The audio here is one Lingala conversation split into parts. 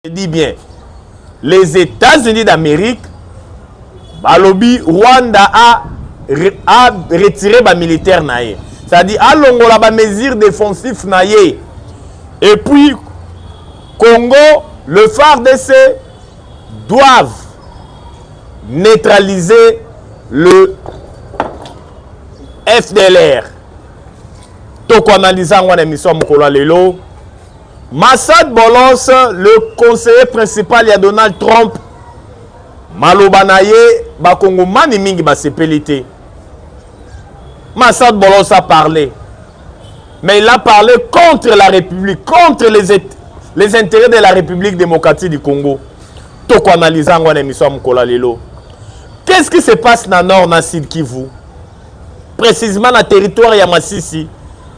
Je dis bien, les États-Unis d'Amérique balobi Rwanda a, a retiré ba militaires na ye. C'est-à-dire alongola ba mesures défensives na ye. Et puis Congo, le FARDC doivent neutraliser le FDLR. Toko analyser yango na émission mokolo lelo. Massad Bolos, le conseiller principal ya Donald Trump, maloba na ye bakongomani mingi basepeli te. Massad Bolos a parlé, mais il a parlé contre la République, contre les, les intérêts de la République démocratique du Congo. Toko analyse yango na émission Mkola lelo. Qu'est-ce qui se passe na nord na sud Kivu? Précisément na territoire ya Masisi.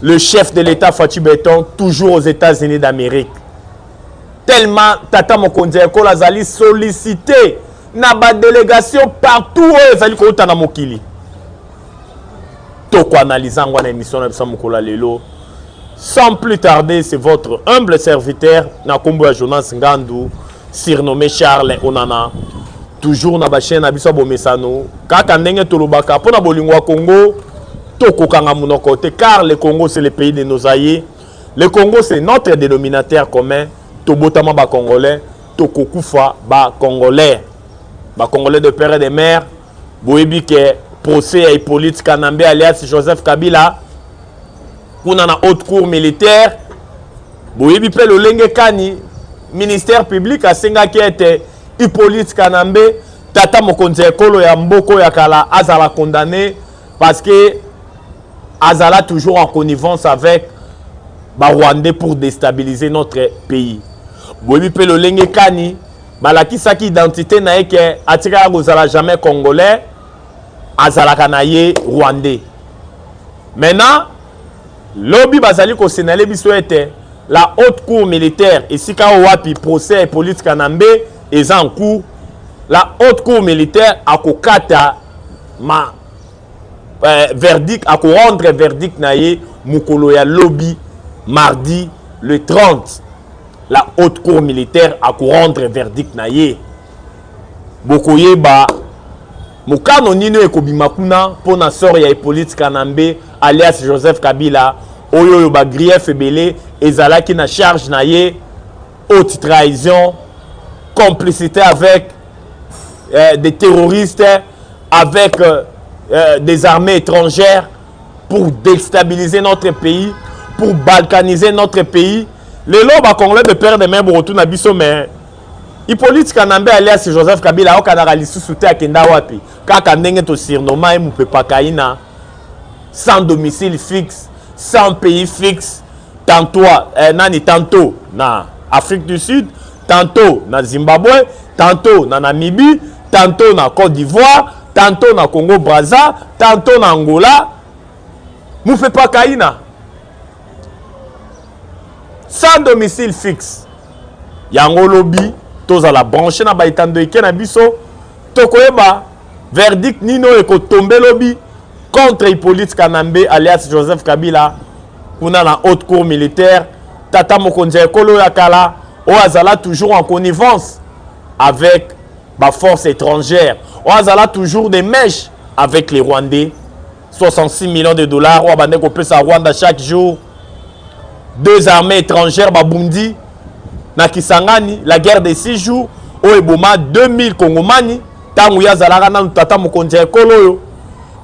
Le chef de l'État Fatshi Beton, toujours aux États-Unis d'Amérique. Tellement Tata Mokonzi Ekola azali sollicité na ba délégation partout oyo ezali kouta na mokili. Toko analyse yango na émission na biso mokolo lelo. Sans plus tarder, c'est votre humble serviteur na kombo ya Jonas Ngandu. surnommé Charles Onana toujours na ba chaîne na biso bomesano kaka ndenge tolobaka mpo na bolingo ya Congo tokokanga monoko te car le Congo c'est le pays de nos aïeux le Congo c'est notre dénominateur commun tobotama ba congolais tokokufa ba congolais ba congolais de père et de mère boyebi ke procès ya hippolyte kanambe alias joseph kabila kuna na haute cour militaire boyebi mpe lolenge kani ministère public asengaki ete hippolyte kanambe tata mokonzi ya ekolo ya mboko ya kala azala condamné parce que azala toujours en connivence avec barwandais pour déstabiliser notre pays boyebi mpe lolenge kani balakisaki identite na ye ke atikaka kozala jamais congolais azalaka na ye rwandais maintenant lobi bazali kosenale biso ete la haute cour militaire esika oyo wapi procès ya polite kanambe eza en cours la haute cour militaire akokata ma euh, verdict akorendre verdict na ye mokolo ya lobi mardi le 30 la haute cour militaire akorendre verdict na ye bokoyeba mokano nini oyo ekobima kuna mpo na sor ya hippolyte kanambe alias joseph kabila oyo oyo bagrief ebele ezalaki na charge na ye haute trahison complicité avec euh, des terroristes avec euh, euh, des armées étrangères pour destabiliser notre pays pour balkaniser notre pays lelo bacongolais de père de main bokotuna biso mais hippolyte kanambe alias joseph kabila aokanaka lisusu te akenda wapi kaka ndenge tosirnoma ye mopepakaina sans domicile fixe sans pays fixe tantôt eh, nani tantôt na afrique du sud tantôt na Zimbabwe, tantôt na Namibie, tantôt na Côte d'Ivoire, tantôt na Congo Brazza, tantôt na Angola. Mufepa Kaina, sans domicile fixe. Yango lobi, tozala branché na baitando eke na biso, tokoyeba verdict nino ekotombe lobi contre Hippolyte Kanambe alias Joseph Kabila kuna na haute cour militaire tata mokonzi ya ekolo ya kala oyo azala toujours en connivence avec baforce étrangère oyo azala toujours des mèches avec les rwandais 66 millions de dollars oyo abandaki kopesa rwanda chaque jour deux armées étrangères babundi na kisangani la guerre de six jours oyo eboma 2000 kongomani ntango ye azalaka nanu tata mokonzi ya ekolo oyo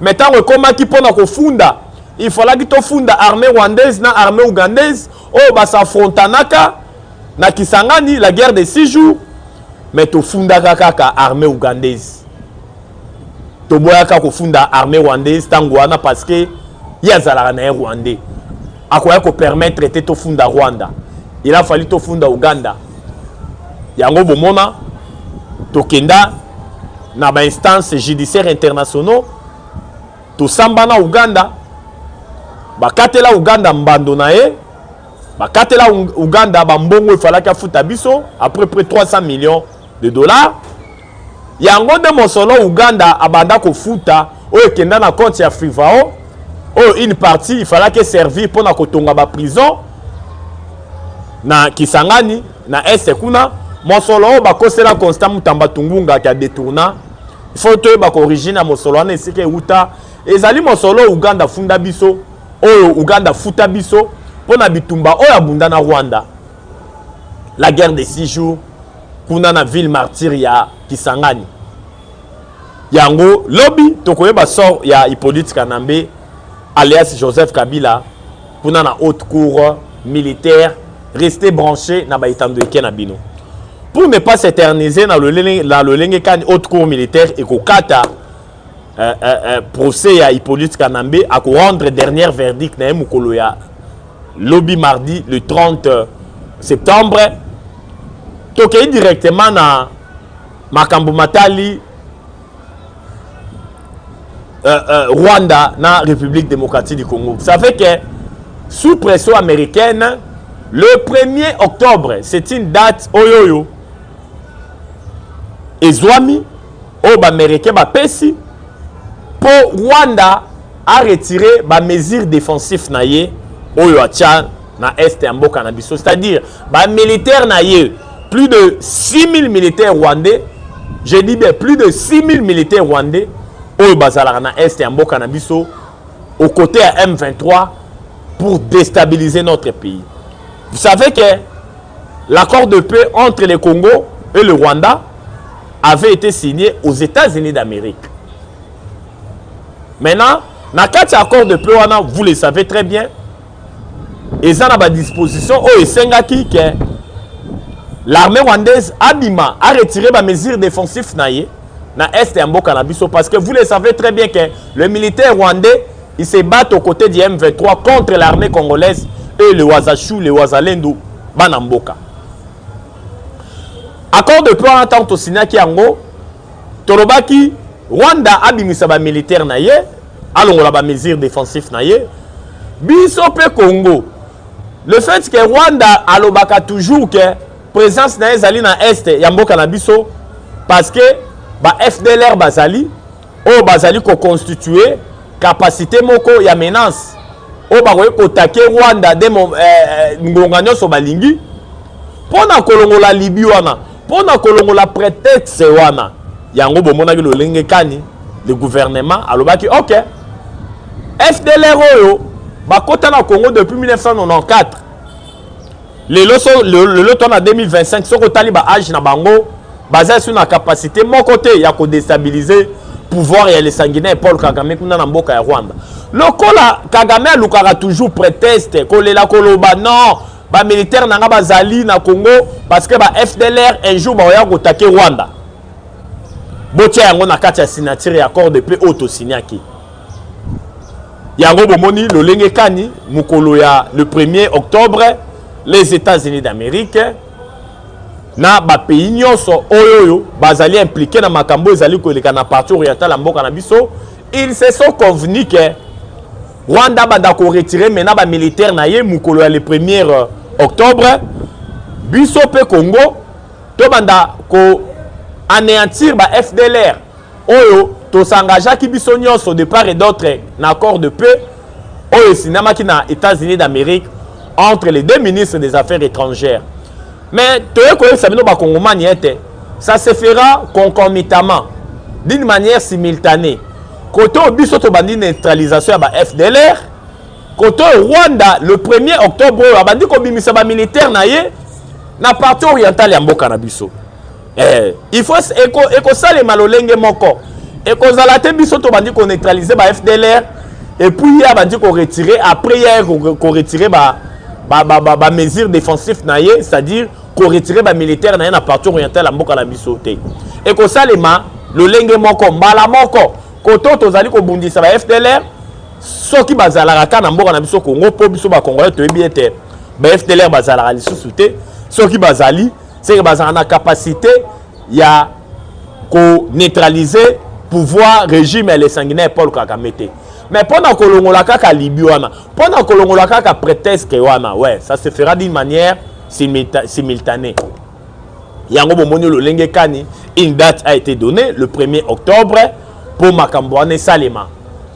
me ntango ekomaki mpo na kofunda il falaki tofunda armée rwandaise na armée ougandaise oyo basafrontanaka na kisangani la guerre de six jours mais tofundaka kaka armée ougandaise toboyaka kofunda armée rwandaise ntango wana parce que ye azalaka na ye rwandais akoya kopermettre te tofunda rwanda il a fallu tofunda uganda yango bomona tokenda na bainstance judiciaire internationaux tosamba na uganda bakatela uganda mbando na ye bakatela uganda bambongo efalaki afuta biso à peu près 300 millions de dollars yango nde mosolo uganda abanda kofuta oyo ekenda na compte ya frivao oyo une partie ifalaki eservir mpo na kotonga baprison na kisangani na este kuna mosolo oyo bakosela constant mutamba tungunga ke adetourna il faut toyeba ko origine ya mosolo wana esika ewuta ezali mosolo oyo uganda afunda biso oyo uganda afuta biso mpo na bitumba oyo abunda na rwanda la guerre de six jours kuna na ville martyre ya kisangani yango lobi tokoyeba sort ya hippolyte kanambe alias joseph kabila kuna na haute cour militaire reste branché na baetando eke na bino pour ne pas s'éterniser na lolenge kani haute cour militaire ekokata euh, euh, euh, procès ya hippolyte kanambe akorendre dernière verdict na ye mokolo ya lobi mardi le 30 septembre tokei directement na makambo matali euh, euh, Rwanda na République démocratique du Congo. Vous savez que sous pression américaine, le 1er octobre, c'est une date oyoyo. Ezwami, oyo baaméricain bapesi mpo rwanda aretire bamesure défensif na ye oyo atya na est ya mboka na biso c'est-à-dire bamilitaire na ye plus de 6000 militaires rwandais je dis bien plus de 6000 militaires rwandais oyo bazalaka na est ya mboka na biso au côté ya m23 pour déstabiliser notre pays vous savez que l'accord de paix entre le congo et le rwanda avait été signé aux états-unis d'amérique maintenant na kati ya accord de paix wana vous le savez très bien eza na badisposition oyo esengaki ke l'armée rwandaise abima aretire bamesure défensif na ye na est ya mboka na biso parce que vous le savez très bien que le militaire rwandais il se bat aux côtés du m23 contre l'armée congolaise et le wazachou le wazalendo bana mboka accord de plan wana ntango tosignaki yango tolobaki rwanda abimisa bamilitaire na ye alongola bamesure défensif na ye biso mpe congo le fait que rwanda alobaka toujours que présence na ye ezali na est ya mboka na biso parce que ba fdlr bazali oyo bazali koconstitue capacité moko ya menace oyo bakoki kotake rwanda de eh, eh, ngonga nyonso balingi mpo na kolongola libi wana Mpo na kolongola pretexte wana, yango bomonaki lolenge kani le gouvernement alobaki ok fdlr oyo bakota na congo depuis 1994 lelo so lelo to na 2025 soki otali ba age na bango baza esu na capacité moko te ya kodestabilise pouvoir ya le sanguinaire paul kagame kuna na mboka ya rwanda lokola kagame alukaka toujours pretexte kolela koloba non ba militaire na nga bazali na congo parce que ba fdlr un jour bakoya kotake rwanda botia yango na kati ya signature ya accord de paix oyo tosignaki yango bomoni lolenge kani mokolo ya le 1er octobre les états-unis d'amérique na bapays nyonso oyo oyo bazali implike na makambo ezali koleka na parti orientale ya mboka na biso ils se sont convenu que Rwanda abanda ko retirer maintenant ba militaires na ye mukolo ya le 1er euh, octobre biso pe Congo to banda ko anéantir ba FDLR oyo to s'engageaki biso nyonso de part et d'autre na accord de paix oyo esinamaki na États-Unis d'Amérique entre les deux ministres des Affaires étrangères mais toye koyebisa bino bakongomani ete ça se fera concomitamment d'une manière simultanée kote oyo biso tobandi neutralisation ya ba fdlr kote oyo rwanda le 1er octobre oyo abandi kobimisa bamilitaire na ye na parti orientale ya mboka na biso eh, il faut eko ekosalema lolenge moko ekozala te biso tobandi koneutralize ba fdlr epuis ye abandi koretire après ye koretire ba, ba, ba, ba, ba mesure défensif na ye c'est-à-dire koretire bamilitaire na ye na parti orientale ya mboka na biso te ekosalema lolenge moko mbala moko koto tozali kobundisa ba fdlr soki bazalaka kaka na mboka na biso congo mpo biso bakongolais toyebi ete ba fdlr bazalaka lisusu te soki bazali seke bazalaka na capacité ya ko neutraliser pouvoir régime ya le sanguinaire paul kagame te mais mpo na kolongola kaka libi wana mpo na kolongola kaka prétexte wana ouais ça se fera d'une manière simultanée yango bomoni lolenge kani une date a été donnée le 1er octobre mpo makambo wana esalema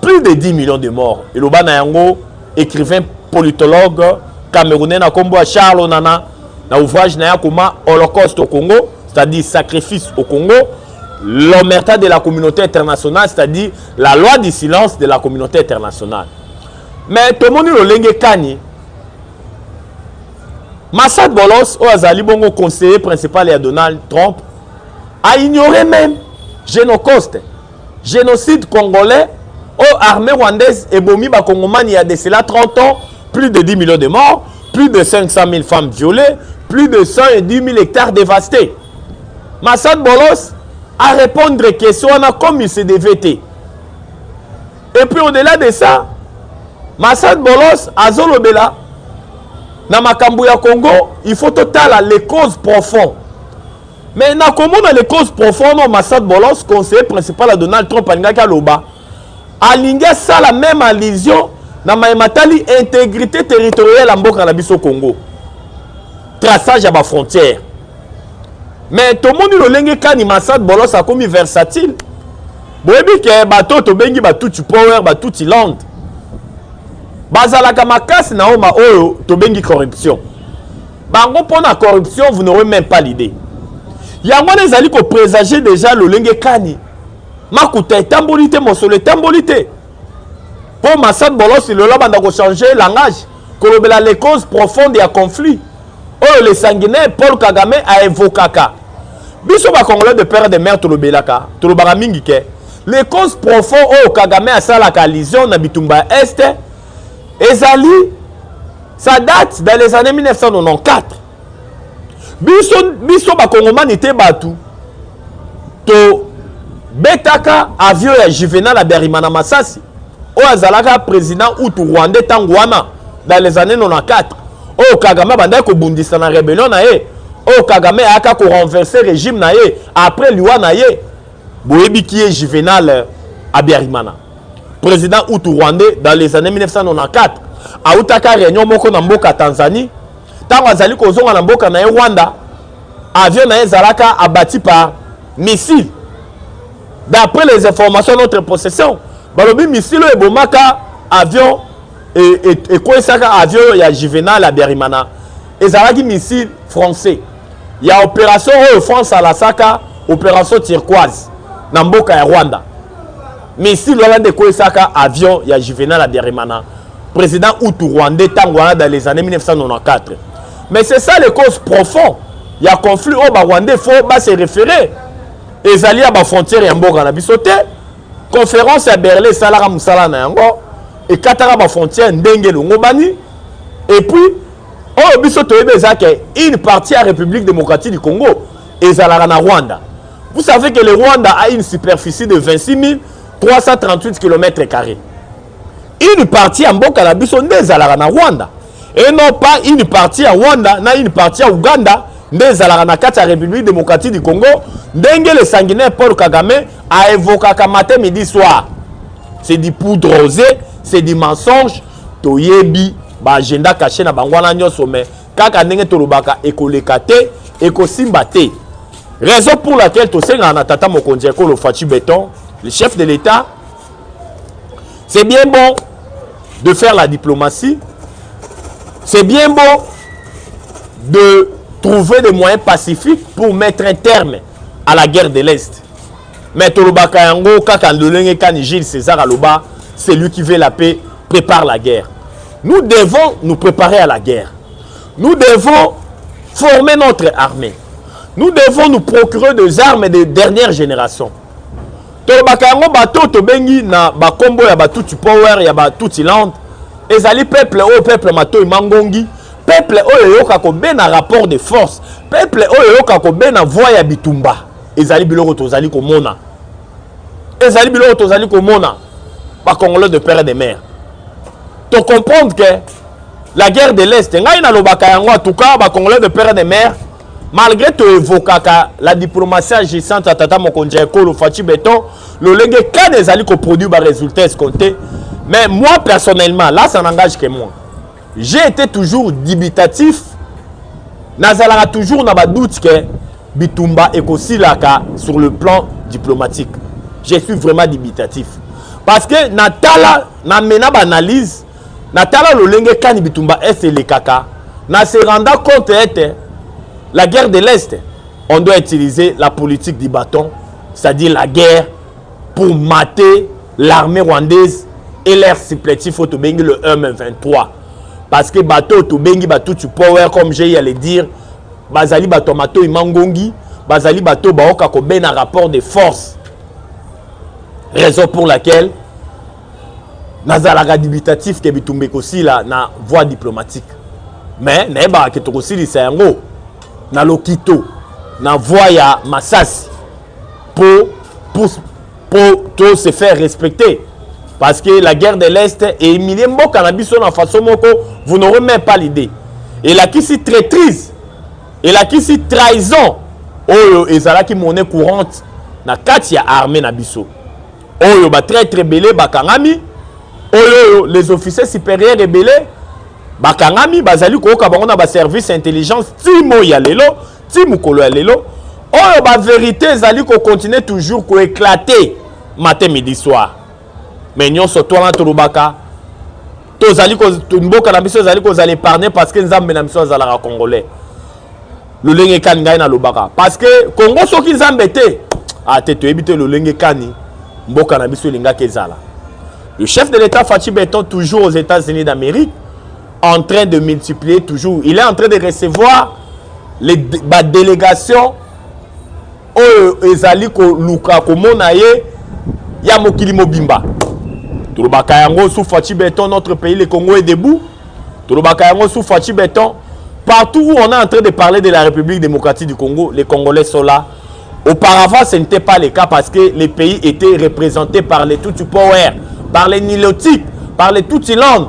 plus de 10 millions de morts eloba na yango écrivain politologue camerounais na nkombo ya charles onana na ouvrage na ye akoma holocauste au congo c'est-à-dire sacrifice au congo l'omerta de la communauté internationale c'est-à-dire la loi du silence de la communauté internationale mais tomoni lolenge kani massad bolos oyo azali bongo conseiller principal ya donald trump a ignoré même genocoste Genocide congolais oyo oh, armée rwandaise ebomi bakongomani ya de cela 30 ans plus de 10 millions de morts plus de 500 000 femmes violées plus de 110 000 hectares dévastés masad bolos a répondre question wana comme il se devait te et puis au-delà de ça masad bolos azolobela na makambo ya congo il faut totala les causes profondes Mais na komona les causes profondes au Massad Bolos, conseiller principal à Donald Trump alingaki aloba. Alingi asala même allusion na maye matali intégrité territoriale ya mboka na biso Congo. Traçage ya ba frontières. Mais tomoni lolenge kani Massad Bolos akomi versatile. Boyebi ke bato tobengi Batutsi Power, Batutsi Land. Bazalaka makasi na oma oyo tobengi corruption. bango mpo na corruption vous n'aurez même pas l'idée yango wana ezali kopresage déjà lolenge kani makuta etamboli te mosolo etamboli te mpo masad bolosi lelo abanda kochanger langage kolobela les causes profondes ya conflit oyo le sanguinaire paul kagame aevokaka biso bacongolais de père de mare tolobelaka tolobaka mingi ke les causes profond oyo kagame asalaka allusion na bitumba ya este ezali ça date dans les années 1994 biso biso bakongomani te bato tobetaka avion ya juvenal aberima na masasi oyo azalaka président utu rwandais ntango wana dans les années 94 oyo kagame abandaki kobundisa na rebellion na ye oyo kagame ayaka korenverse régime na ye après liwa na ye boyebi ki ye juvenal abiarimana president utu rwandais dans les années 1994 autaka réunion moko na mboka tanzanie ntango azali kozonga na mboka na ye rwanda avion na ye ezalaka abati par missile d'après les informations notre possession balobi missile oyo ebomaka avion ekweisaka e, e, avion oyo ya juvenal ya berimana ezalaki missile français ya opération oyo france alasaka opération turquoise na mboka ya rwanda missile wana nde ekwesaka avion ya juvenal abiarimana président utu rwandais ntango wana dans les années 1994 mais c'est ça les causes profond ya conflit oyo barwandais fo base référé ezali ya bafrontière ya mboka na biso te conférence ya berlin esalaka mosala na yango ekataka bafrontière ndenge elongobani epuis oyo biso toyebi eza ke une partie ya république démocratique du congo ezalaka na rwanda Vous savez que le Rwanda a une superficie de 26 338 km. Une partie à Mboka na biso nde ezalaka na Rwanda et non pas une partie à Rwanda na une partie à Ouganda nde ezalaka na kati ya République démocratique du Congo ndenge le sanguinaire Paul Kagame a évoquaka matin midi soir. C'est du poudre rosée, c'est du mensonge, toyebi ba agenda caché na bango wana nyonso mais kaka ndenge tolobaka ekoleka te ekosimba te raison pour laquelle tosengaka na tata mokonzi ya ekolo faci beton le chef de l'état c'est bien bon de faire la diplomatie c'est bien bon de trouver des moyens pacifiques pour mettre un terme à la guerre de l'est mais tolobaka yango kaka lolenge kani gilles césar aloba celui qui veut la paix prépare la guerre nous devons nous préparer à la guerre nous devons former notre armée nous devons nous procurer des armes de dernière génération tolobaka yango bato tobengi na bakombo ya batuti power ya batuti land ezali peuple oyo peuple matoi mangongi peuple oyo eyoka kobena rapport de force peuple oyo eyoka kobena voie ya bitumba ezali biloko tozali komona ezali biloko tozali komona bacongolais de père de mare tocomprendre ke la guerre de l'est ngai nalobaka yango en tout cas bacongolais de père de mare malgré toevokaka la diplomatie agissante ya tata mokonzi ya ekolo faci beton lolenge kani ezali koproduire baresultat escompte mais moi personnellement là ça n'engage que moi j'ai été toujours dubitatif nazalaka toujours na badoute ke bitumba ekosilaka sur le plan diplomatique je suis vraiment dubitatif parce que natala namena baanalyse natala lolenge kani bitumba est elekaka na se renda compte ete la guerre de l'est on doit utiliser la politique du bâton c'est-à-dire la guerre pour mater l'armée rwandaise et leur supplétif oyo tobengi le m23 parce que bato oyo tobengi batutu power comme jei ale dire bazali bato ya matoi mangongi bazali bato oyo baoka kobena rapport de force raison pour laquelle nazalaka dubitatif ke bitumba ekosila na voie diplomatique mais nayebaka ke tokosilisa yango na lokito na voie ya masasi pour, pour, pour to se faire respecter parce que la guerre de l'est eemilie mboka na biso na façon moko vous n'aurez même pas l'idée elakisi traitrise elakisi trahison oyo ezalaki monnaie courante na kati ya armée na biso oyo batraitre ebele bakangami oyo oyo les officiers supérieurs ebele bakangami bazali koyoka bango na baservice intelligence ti moi ya lelo ti mokolo ya lelo oyo baverité ezali kocontinue toujours koeklate matin midi soir mais nyonso to wana tolobaka tozali mboka na biso ezali kozala épargne parce que nzambe na biso azalaka congolais lolenge kani ngai nalobaka parce que congo soki nzambe te ate ah, toyebi te lolenge kani mboka na biso elingaki ezala le chef de l'état fachi beton toujours aux états-unis d'amérique en train de multiplier toujours il est en train de recevoir les ba délégation oyo ezali koluka komona ye ya mokili mobimba tolobaka yango sous faci beton notre pays le congo est debout tolobaka yango sous faci beton partout où on est en train de parler de la république démocratique du congo les congolais sont là auparavant ce n'était pas le cas parce que les pays étaient représentés par les tutsi power par les nilotiques par les tutsilandes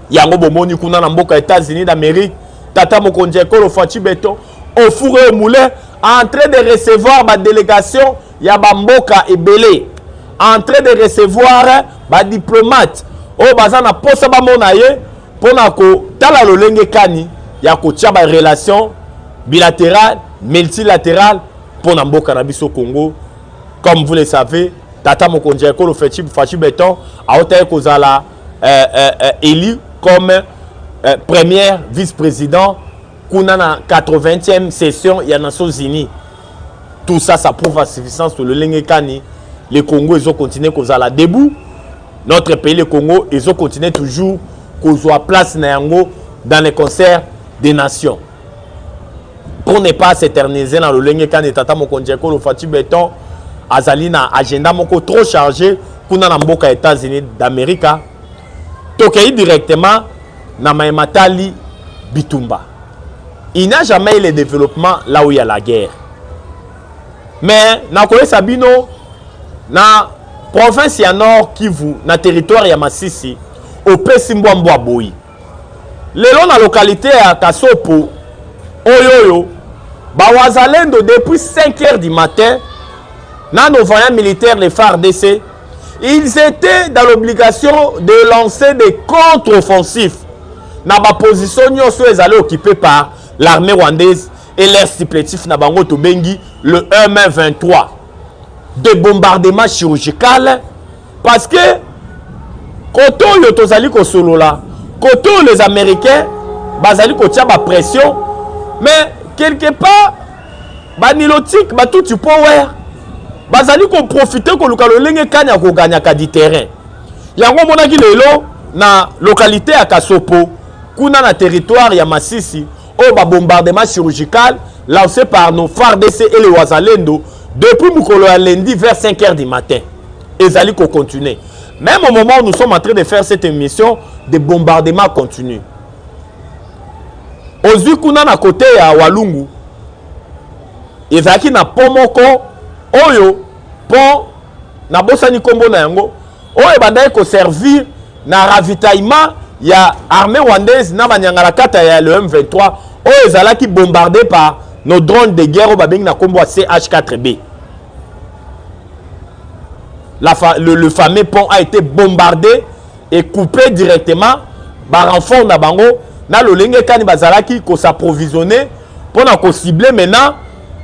yango bomoni kuna na mboka États-Unis d'Amérique tata mokonzi ya ekolo Fatshi Beton au four et au moulin en train de recevoir ba délégation ya ba mboka ebele en train de recevoir ba diplomate oyo baza na posa bamona ye mpo na kotala lolenge kani ya kotya ba relation bilaterale multilaterale mpo na mboka na biso Congo comme vous le savez tata mokonzi ya ekolo Fatshi Beton aotaki kozala euh, euh, euh, élu comme euh, première vice-président kuna na 80e session ya nations unies tout ça ça prouve à suffisance que lolenge kani le congo ezo continue kozala debout notre pays le congo ezo continue toujours kozwa place na yango dans les concerts des nations pour ne pas s'éterniser na lolenge kani tata mokonzi ya ekolo fati beton azali na agenda moko trop chargé kuna na mboka ya états-unis d'america tokei directement na maye matali bitumba il n'a jamais eu le développement là où il y a la guerre mais nakoyesa bino na province ya nord kivu na territoire ya masisi opesi mbwa mbwa boyi Lelo na localite ya Kasopo oyoyo ba wazalendo depuis 5 heures du matin na nos voyants militaires les FARDC ils étaient dans l'obligation de lancer des contre-offensifs na ba position nyonso ezali occupé par l'armée rwandaise et leur supplétif na bango tobengi le M23 de bombardement chirurgical parce que kote oyo tozali kosolola kote oyo les américains bazali kotya bapression mais quelque part banilotike batuti mpo wer bazali koprofite koluka lolenge kani ya koganyaka di terrain yango omonaki lelo na lokalite ya kasopo kuna na territoire ya masisi oyo ba bombardement chirurgical lancé par nos fardc et le wazalendo depuis mokolo ya lundi vers 5 heures du matin ezali kocontinue même au moment où nous sommes en train de faire cette émission de bombardement continue ozwi kuna na kote ya walungu ezalaki na pont moko oyo pont nabosani nkombo na yango oyo ebandaki koservir na ravitaillement ya armée rwandaise na banyangalakata ya le M23 oyo ezalaki bombarde par nos drones de guerre oyo babengi na nkombo ya CH4B. La fa le, le fameux pont a été bombardé et coupé directement barenfort na bango na lolenge kani bazalaki kosapprovisionne mpo na kocible maintenant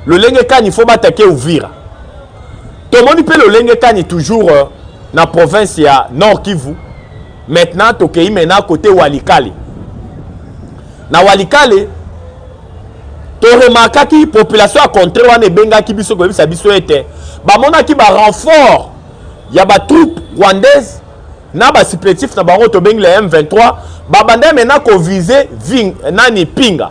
lolenge kani faut batake uvira tomoni mpe lolenge kani toujours euh, na province ya nord kivu maintenant tokei mena kote walikale na walikale toremarkaki population ya contre wana ebengaki biso koyebisa biso ete bamonaki barenfort ya batroupe rwandaise na basipetif na bango tobengi la m23 babanda mena kovise nani pinga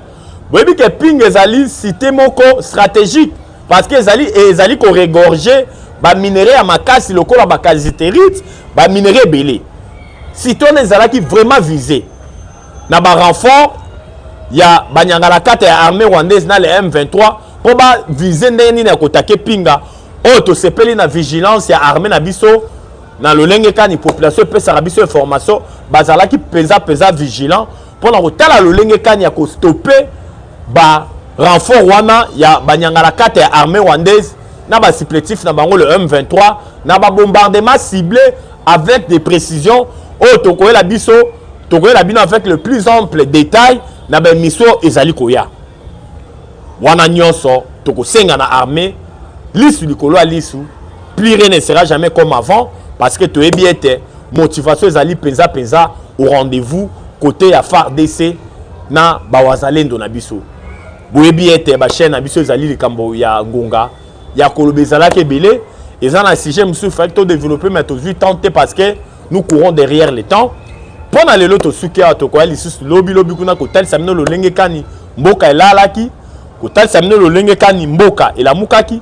boyebi ke ping ezali site moko stratégique parce que ezali ezali koregorge baminerai ya makasi lokola bakaziterite baminerai ebele site wana ezalaki vraiment vise na barenfort ya banyangalakata ya armée rwandaise na le m23 mpo bavise ndenge nini ya kotake pinga oyo oh, tosepeli na vigilance ya armée na biso na lolenge kani population epesaka biso information bazalaki mpenza mpenza vigilant mpo na kotala lolenge kani ya kostope ba renfort wana ya banyangalakata ya armée rwandaise na basupplétif na bango le m23 na babombardement ciblé avec des précisions oyo tokoyela biso tokoyela bino avec le plus ample détail na baemission oyo ezali koya wana nyonso tokosenga na armée lisu likolo ya lisu plus rien ne sera jamais comme avant parce que toyebi ete motivation ezali mpenza mpenza au rendez-vous kote ya fardc na bawazalendo na biso boyebi ete bachaine na biso ezali likambo ya ngonga ya koloba ezalaki ebele eza na sujet mosusu faki todeveloppe mai tozwi temps te parce que nous courons derrière le temps mpo na lelo tosuki awa tokoya lisusu lobilobi kuna kotalisa bino lolenge kani mboka elalaki kotalisa bino lolenge kani mboka elamukaki